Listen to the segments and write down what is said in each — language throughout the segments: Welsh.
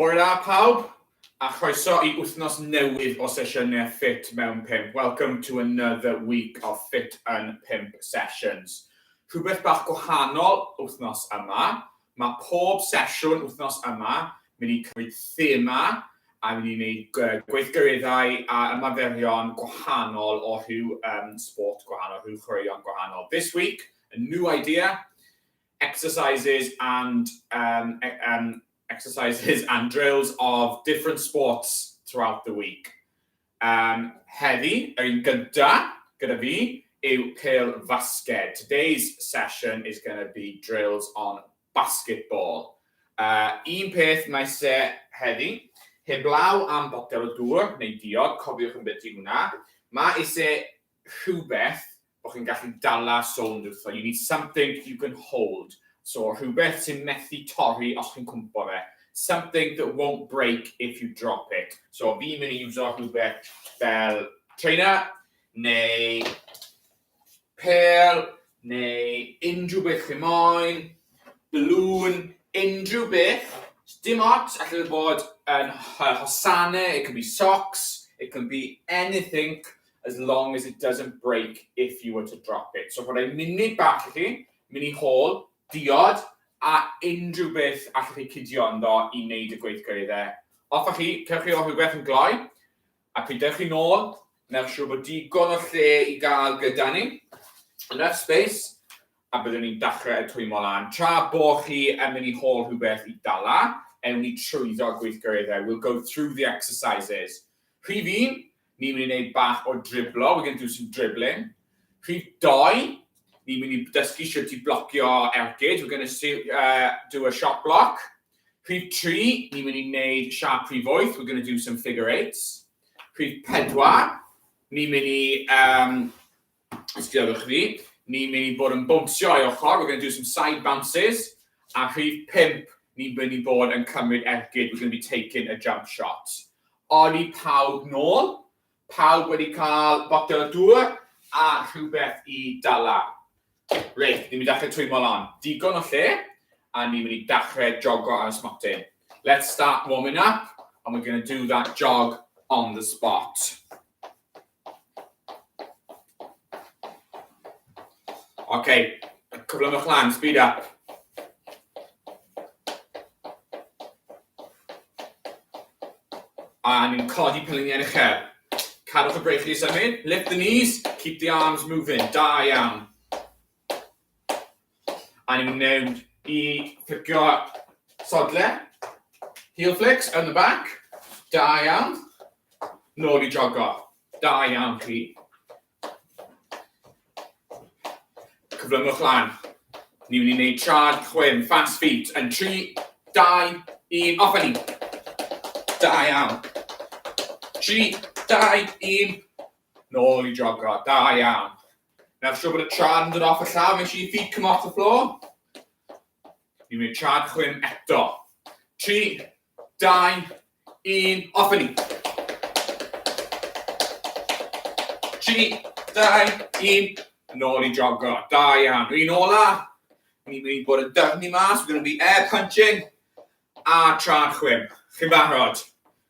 Hwyl da pawb, a chroeso i wythnos newydd o sesiynau ffit mewn pump. Welcome to another week of ffit yn pump sessions. Rhywbeth bach gwahanol wythnos yma, mae pob sesiwn wythnos yma mynd i cymryd thema a mynd i wneud gweithgareddau a ymaferion gwahanol o rhyw um, sport gwahanol, rhyw chwaraeon gwahanol. This week, a new idea, exercises and um, e, um, exercises and drills of different sports throughout the week. Um, heddi, yr un gyda, gyda fi, yw cael fasged. Today's session is going to be drills on basketball. Uh, un peth mae se heddi, heblaw am botel o dŵr neu diod, cofiwch yn beth i hwnna, mae eisiau rhywbeth bod chi'n gallu dala sownd wrtho, you need something you can hold, so rhywbeth sy'n methu torri os chi'n cwmpo fe, something that won't break if you drop it, so fi'n mynd i iwso rhywbeth fel trainer, neu pel, neu unrhyw beth chi moyn, balloon, unrhyw beth, dim ots, allai fe fod yn hosanau, it can be socks, it can be anything, as long as it doesn't break if you were to drop it. So rhoi munud bach i chi, mynd i hôl, diod, a unrhyw beth allwch chi cydio ynddo i wneud y gweithgor iddo. Off â chi, cewch chi o rhywbeth yn gloi, a pryd dewch chi nôl, newch siŵr bod digon o lle i gael gyda ni, enough space, a byddwn ni'n dechrau y twymo lan. Tra bo chi yn mynd i hôl rhywbeth i dala, ewn ni trwyddo gweithgareddau. We'll go through the exercises. Rhif un, Ni'n mynd i wneud bach o driblo, we're going to do some dribbling. Rhif doi, ni'n mynd i dysgu sut i blocio ergyd, we're going to see, uh, do a shot block. Rhif tri, ni'n mynd i wneud siap rhif wyth, we're going to do some figure eights. Rhif pedwar, ni'n mynd i um, Os gredwch fi, ni'n mynd i bod yn bownsio ei ochr, we're going to do some side bounces, a rhif pump, ni'n mynd i bod yn cymryd ergyd, we're going to be taking a jump shot. Oli pawb nôl, pawb wedi cael botel o dŵr a rhywbeth i dala. Reit, ni'n mynd i ddechrau twymo lan. Digon o lle, a ni'n mynd i ddechrau jogo ar y smotyn. Let's start warming up, and we're going to do that jog on the spot. Ok, cyflymwch lan, speed up. A ni'n codi pyluniau yn y uchel. Cadwch y breichiau i symud, lift the knees, keep the arms moving, da iawn. A ni'n mynd i fflicio sodle. Heel flicks yn y bac. Da iawn. Nôl i jogo. Da iawn chi. Cyflymwch lan. Ni'n mynd i wneud trad chwim, fast feet, yn 3, 2, 1, off a ni. Da iawn. 3, 2, 1. Nôl i jogo. Da iawn. Now siw bod y tra'n yn dod off y llaw, make sure your feet come off the floor. Ni'n mynd tra'n chwyn eto. 3, 2, 1, off yn ni. 3, 2, 1, yn ôl i jogo. Da iawn. Rwy'n ola. Ni'n mynd i bod yn dyfni mas, we're going to be air punching. A tra'n chwyn. Chi'n barod?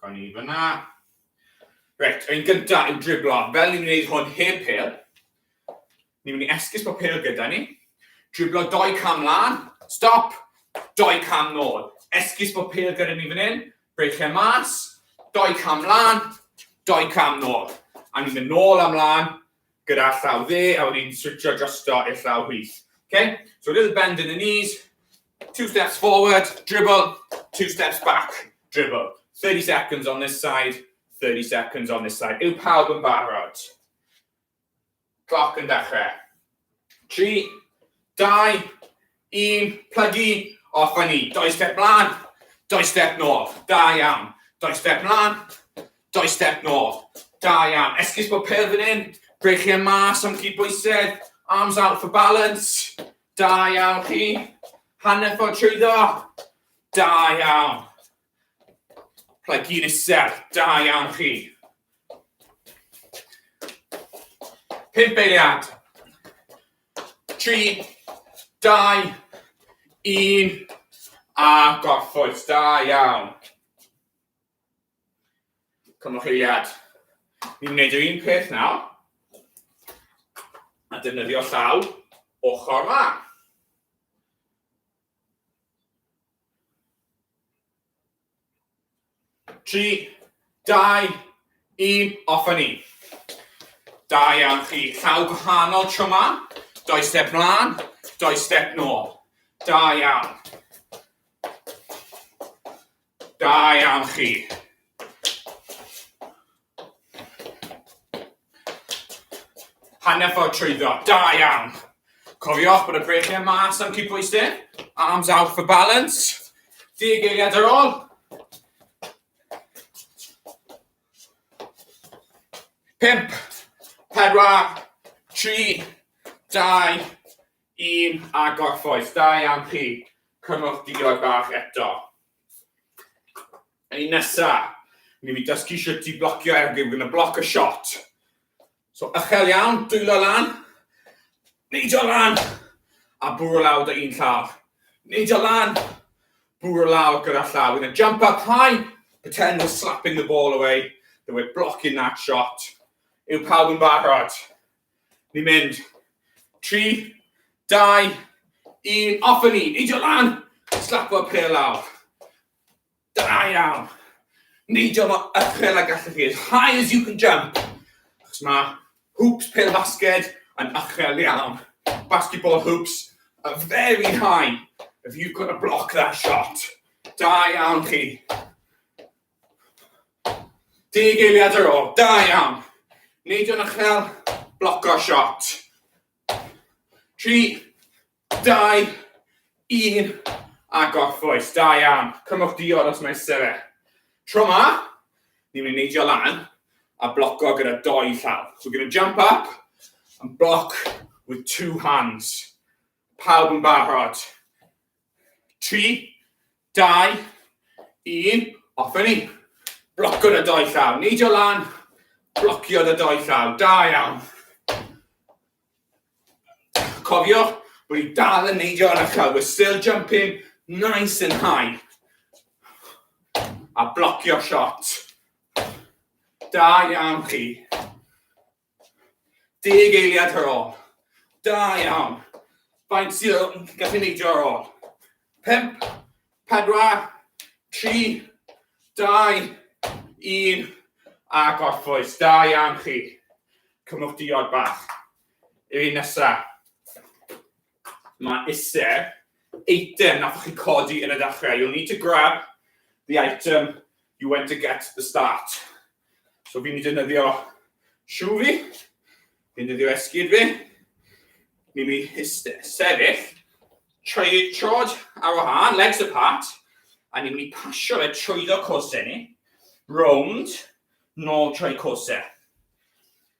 Gawn ni fyna. Reit, ein gyntaf yw driblo. Fel ni'n gwneud hwn heb pel, ni'n mynd i esgus bod pel gyda ni. Driblo doi cam lan, stop, doi cam nôl. Esgus bod pel gyda ni fan hyn, brech lle mas, doi cam lan, doi cam nôl. A ni'n mynd nôl am lan, Gyda llaw dde a wedyn switsio drosto i'r llaw chwith. Okay? So a little bend in the knees, two steps forward, dribble, two steps back, dribble. 30 seconds on this side, 30 seconds on this side. Yw pawb yn barod? Cloc yn dechrau. 3, 2, Yn plygu off fan hyn. Doi step mlan, doi step nôl. Da iawn. Doi step mlan, doi step nôl. Da iawn. Esgus bod pel fan hyn. Brechu e mas am chi bwysedd. Arms out for balance. Da iawn chi. Hanner ffordd trwyddo. Da iawn. Rhaid gyn isel, da iawn chi. Pimp eiliad. Tri, dau, un, a gorffwys, da iawn. Cymwch eiliad. Ni'n gwneud yr un peth nawr. A defnyddio llaw ochr dda. Tri, dau, un, off a ni. Da iawn chi. Llaw gwahanol tro ma. Doi step mlaen, doi step nôl. Da iawn. Da iawn chi. Hanner ffordd trwyddo. Da iawn. Cofiwch bod y breichiau mas am cydbwysyn. Arms out for balance. Deg eiliad ar ôl. Pimp, pedwar, tri, dau, Un a gorffwys. Da iawn chi. Cymwch diod bach eto. Yn un nesa, ni fi dysgu sut i blocio ergyd. We're going to block a shot. So ychel iawn, dwylo lan. Neidio lan. A bwrw lawr dy un llaw. Neidio lan. Bwrw lawr gyda llaw. We're going to jump up high. Pretend we're slapping the ball away. That we're blocking that shot. Yw pawb yn barod? Ni'n mynd. Tri, dau, un, off yn ni. Neidio lan. Slapo'r pêl lawr. Da iawn. Neidio mor uchel a gallwch chi. As high as you can jump. Chos mae hoops pêl basged yn uchel iawn. Basketball hoops are very high if you've got to block that shot. Da iawn chi. Deg eiliad ar ôl, da iawn! Neidio yn uchel, bloco shot. Tri, dau, un, a gorffwys, da iawn. Cymwch diod os mai isie fe. Tro ma, ni'n mynd i neidio lan a bloco gyda doi llaw. So we're going to jump up and block with two hands. Pawb yn barod? 3, 2, 1, off ni. Blocio y doi llaw, neidio lan, blocio y doi llaw, da iawn. Cofio, bod i dal yn neidio yn y llaw, we're still jumping nice and high. A blocio shot. Da iawn chi. Deg eiliad ar ôl. Da iawn. Faint sydd yn gallu neidio ar ôl? Pump, pedwar, tri, dau, un, a gorffwys. Da iawn chi. Cymwch diod bach. Yr un nesa. Mae iser eitem nath chi codi yn y dechrau. You'll need to grab the item you went to get at the start. So fi'n defnyddio siw fi, fi'n defnyddio esgyd fi, ni'n mynd i sefyll, troi trod ar wahân, legs apart, a ni'n mynd i pasio fe trwyddo cosau ni, rownd, nôl trwy cosau.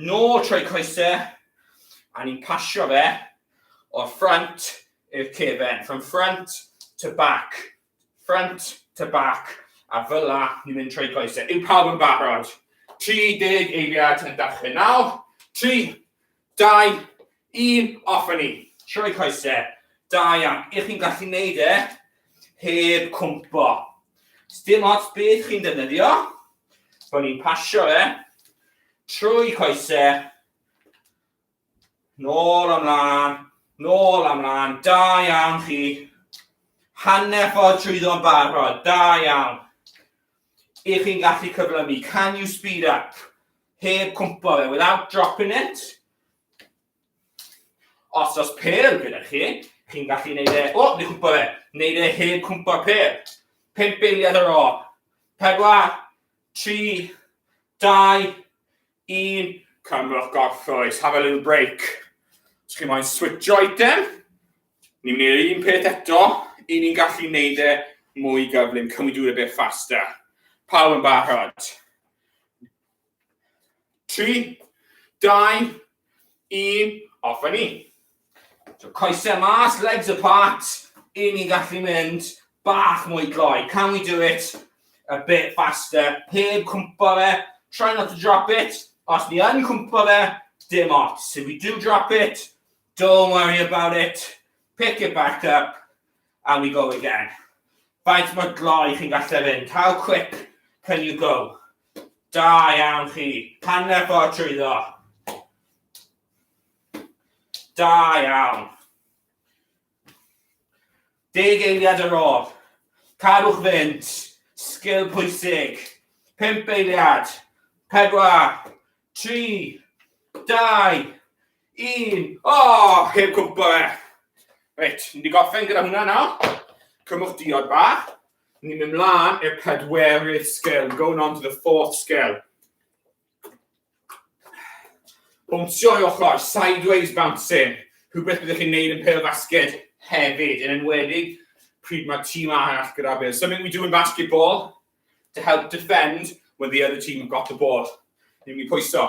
nôl trwy coesau, a ni'n pasio fe o'r ffrant i'r cefen, from front to back, front to back, a fel la, ni'n mynd trwy coesau. Yw pawb yn barod? 30 eiliad yn dachrau nawr, 3, 2, Un, off a ni! Sioe coese, da iawn, y'ch chi'n gallu neud e heb cwmpo. Sdim ots beth chi'n defnyddio, bo ni'n pasio fe trwy coese, nôl amlan, nôl amlan, da iawn chi. Hanner ffordd trwyddo'n barod, da iawn. Ych chi'n gallu cyflymu, can you speed up? Heb cwmpo fe, without dropping it, Os oes pêl gyda chi, chi'n gallu neud e... O, ni cwmpa fe. Neud e heb cwmpa pêl. Pimp eiliad ar ôl. Pedwar, tri, dau, un. Cymrwch gorffwys. Have a little break. Os chi'n moyn switch item, ni'n mynd i'r un peth eto, i ni'n gallu neud e mwy gyflym. Can we do it a bit faster? Pawb yn barod? 3, 2, 1, off a ni. So coesau mas, legs apart, i ni gallu mynd bach mwy gloi. Can we do it a bit faster? Heb cwmpa fe, try not to drop it. Os ni yn cwmpa fe, dim ots. If we do drop it, don't worry about it. Pick it back up and we go again. Faint mae gloi chi'n gallu fynd? How quick can you go? Da iawn chi. Hanner ffordd trwyddo. Da iawn. Deg eiliad ar ôl. Cadwch fynd. Sgil pwysig. Pimp eiliad. Pedwar. Tri. Dau. Un. O, oh, heb cwmpa fe. Reit, ni wedi gorffen gyda hwnna nawr. Cymwch diod bach. Ni'n mynd mlaen i'r pedwerydd sgil, going on to the fourth sgil. Bwnsio i ochr, sideways bouncing, rhywbeth byddwch chi'n neud yn pêl basged hefyd, yn enwedig pryd mae tîm arall gyda bêl. Something we do in basketball to help defend when the other team have got the ball. Ni'n mynd i pwyso.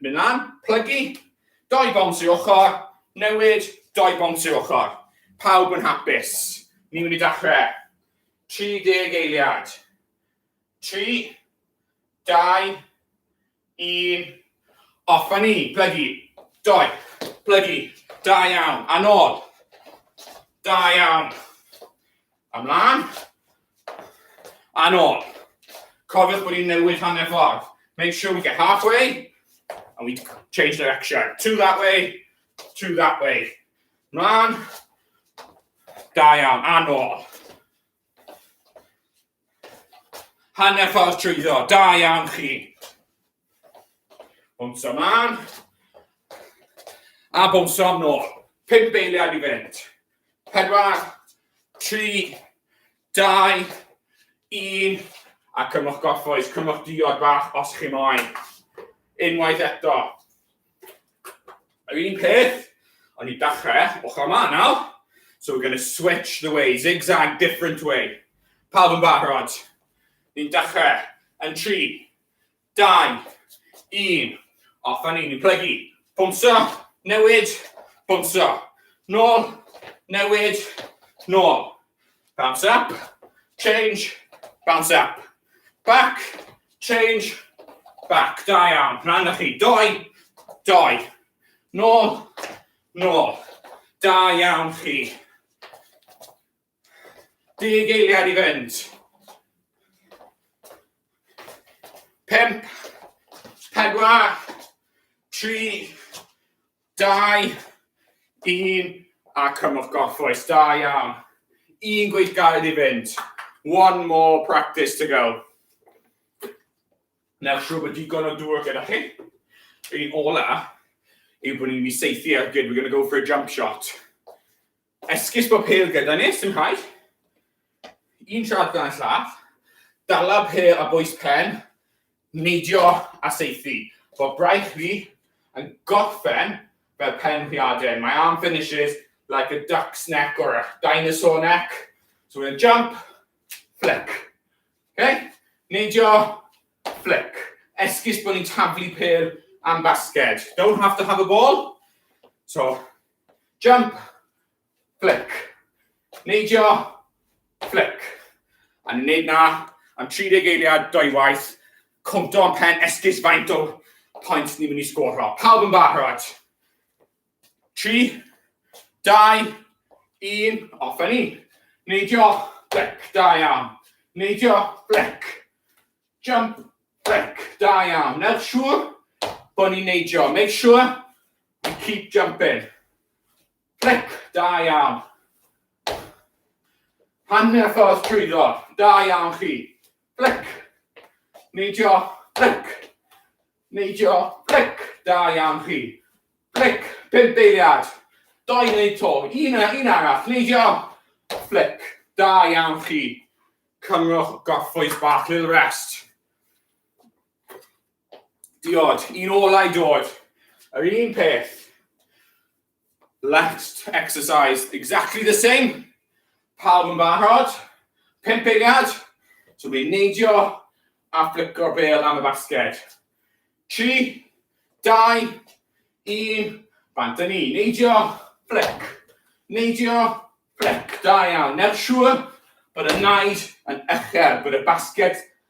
Mynd lan, plygu, doi bont i ochr, newid, doi bont i ochr. Pawb yn hapus. Ni'n mynd i dachrau. 30 eiliad. 3, 2, 1, off a ni, plygu, doi, plygu, da iawn, a nôl. Da iawn. Ymlaen. A nôl. Cofiwch bod ni'n newid hanner ffordd. Make sure we get halfway, and we change direction. Two that way, two that way. Mlaen. Da iawn, a nôl. Hanner ffordd trwyddo, da iawn chi. Bwnsio mlaen. A bwnsio am nôl. Pum beiliad i fynd. Pedwar, tri, dau, un. A cymwch gorffwys, cymwch diod bach os chi moyn. Unwaith eto. Yr un peth, ond i dachrau, ochr yma nawr. So we're going to switch the way, zigzag, different way. Pawb yn barod. Ni'n dachrau. Yn tri, 2, 1, off a ni'n plygu, pwmso, newid, pwmso, nôl, newid, nôl, bounce up, change, bounce up, back, change, back, da iawn, rhan na chi, doi, doi, nôl, nôl, da iawn chi. Deg eiliad i fynd. Pump, pedwar, tri, dau, un, a cymwch gorffwys. Da iawn. Un gweithgaredd i fynd. One more practice to go. Nawr siw bod digon o dŵr gyda chi. Yr un ola yw bod ni'n mynd i seithi ar gyd. We're going to go for a jump shot. Esgus bod pêl gyda ni, sy'n rhaid. Un siarad gan llath. Dala pêl a bwys pen. Neidio a seithi. Bod braich fi yn gorffen fel pen rhiaden. My arm finishes like a duck's neck or a dinosaur neck. So we're going to jump, flick. Okay? Neidio, flick. Esgus bod ni'n taflu pêl am basged. Don't have to have a ball. So, Jump, flick. Neidio, flick. A ni'n neud na am 30 eiliad, dwy waith. Cwmto yn pen esgus faint o pwynt ni'n mynd i sgoro. Pawb yn barod? 3, 2, 1, off a ni. Neidio, flick, da iawn. Neidio, flick. Jump, flick, da iawn. Newch siŵr bod ni'n neidio. Make sure And keep jumping. Clic, da iawn. Pan mae'r ffordd trwyddo, da iawn chi. Clic, neidio, clic, neidio, clic, da iawn chi. Clic, pimp eiliad. Doi wneud to, un, un arall, neidio, flic, da iawn chi. Cymrwch gorffwys bach, little rest. Diod, un olau dod. Yr un peth. Left exercise, exactly the same. Pawb yn barod. Pimp eiliad. So bydd neidio a fflico'r bel am y basged. 3, 2, 1, bant yn ni. Neidio, flic. Neidio, flic. Da iawn. Newch siŵr bod y naid yn uchel, bod y basged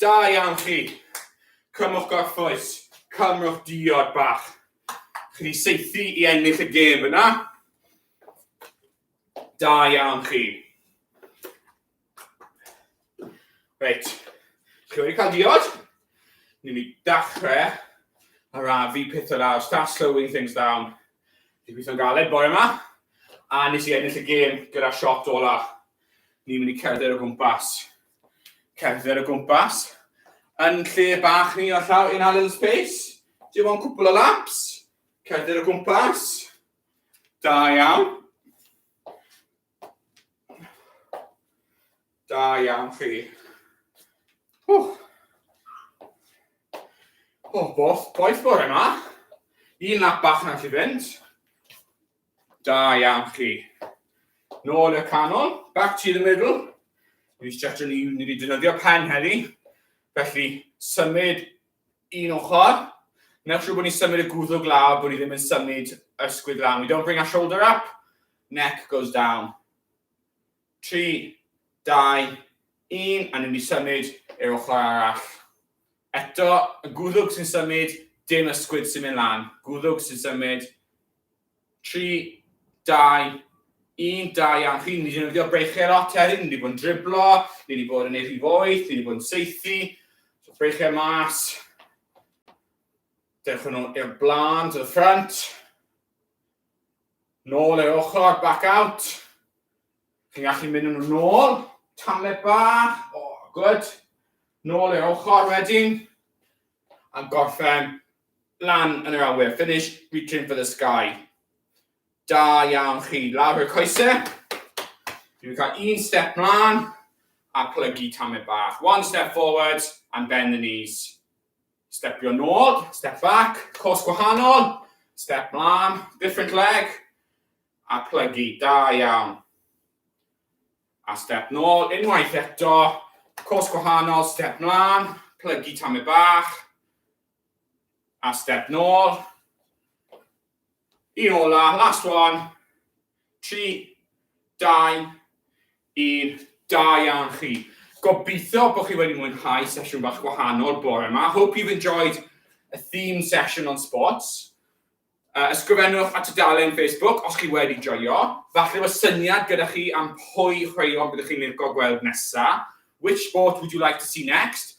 Da iawn chi! Cymrwch gorffwys, cymrwch diod bach. Chi wedi saethu i ennill y gêm yna. Da iawn chi. Reit, chi wedi cael diod? Ni'n mynd i dachrau ar afu pethau lawr, start slowing things down. Dwi'n gweithio'n galed bore yma, a nes i ennill y gêm gyda shot olaf. Ni'n mynd i cerdded o gwmpas. cerdded o gwmpas yn lle bach ni o llaw in our little space. Do you want cwpl o laps? Cerdded o gwmpas. Da iawn. Da iawn chi. Oh. Oh, both, boeth bore yma. Un lap bach na chi fynd. Da iawn chi. Nôl y canol, back to the middle. Ni stretch ni, ni wedi defnyddio pen heddi. Felly, symud un ochr. Newch siŵr bod ni'n symud y gwddw glaw, bod ni ddim yn symud ysgwydd lan. We don't bring our shoulder up, neck goes down. 3, 2, 1 a ni'n mynd i symud i'r ochr arall. Eto, y gwddwg sy'n symud, dim ysgwyd sy'n mynd lan. Gwddwg sy'n symud. 3, 2, 1, 2 iawn. Chi'n mynd i ddefnyddio breichiau lot hefyd, ni wedi bod yn driblo, ni wedi bod yn ei rhif oeth, ni wedi bod yn seithi. So breichiau mas. Dewch yn ôl i'r blaen, to the front. Nôl i'r ochr, back out. Chi'n gallu mynd yn ôl, tamlet bach, o, oh, good. Nôl i'r ochr wedyn, a gorffen lan yn yr awyr. Finish, reaching for the sky. Da iawn chi, lawr y coesau. Dwi'n cael un step mlaen a plygu tamlet bach. One step forward and bend the knees. Stepio nôl, step back, cos gwahanol, step mlaen, different leg, a plygu, da iawn. A step nôl, unwaith eto, cos gwahanol, step mlaen, plygu tamau bach, a step nôl, Y ola, last one. Tri, dau, un. Da iawn chi. Gobeithio bod chi wedi mwynhau sesiwn bach gwahanol bore yma. Hope you've enjoyed a theme session on sports. Uh, ysgrifennwch at y dalen Facebook os chi wedi joio. Falle fod syniad gyda chi am pwy chweion byddwch chi'n licio gweld nesa. Which sport would you like to see next?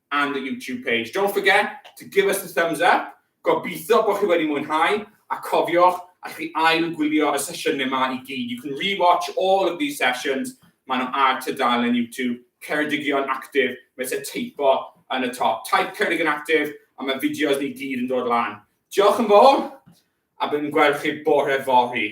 and the YouTube page. Don't forget to give us the thumbs up. Gobeithio bod chi wedi mwynhau, a cofiwch, allwch chi ail gwylio y sesiynau yma i gyd. You can rewatch all of these sessions, maen nhw ar tudalen YouTube, Ceredigion Active, mae eisiau teipo yn y top. Type Ceredigion Active, a mae fideos ni gyd yn dod lan. Diolch yn fawr, a byddwn yn gweld chi bore fory.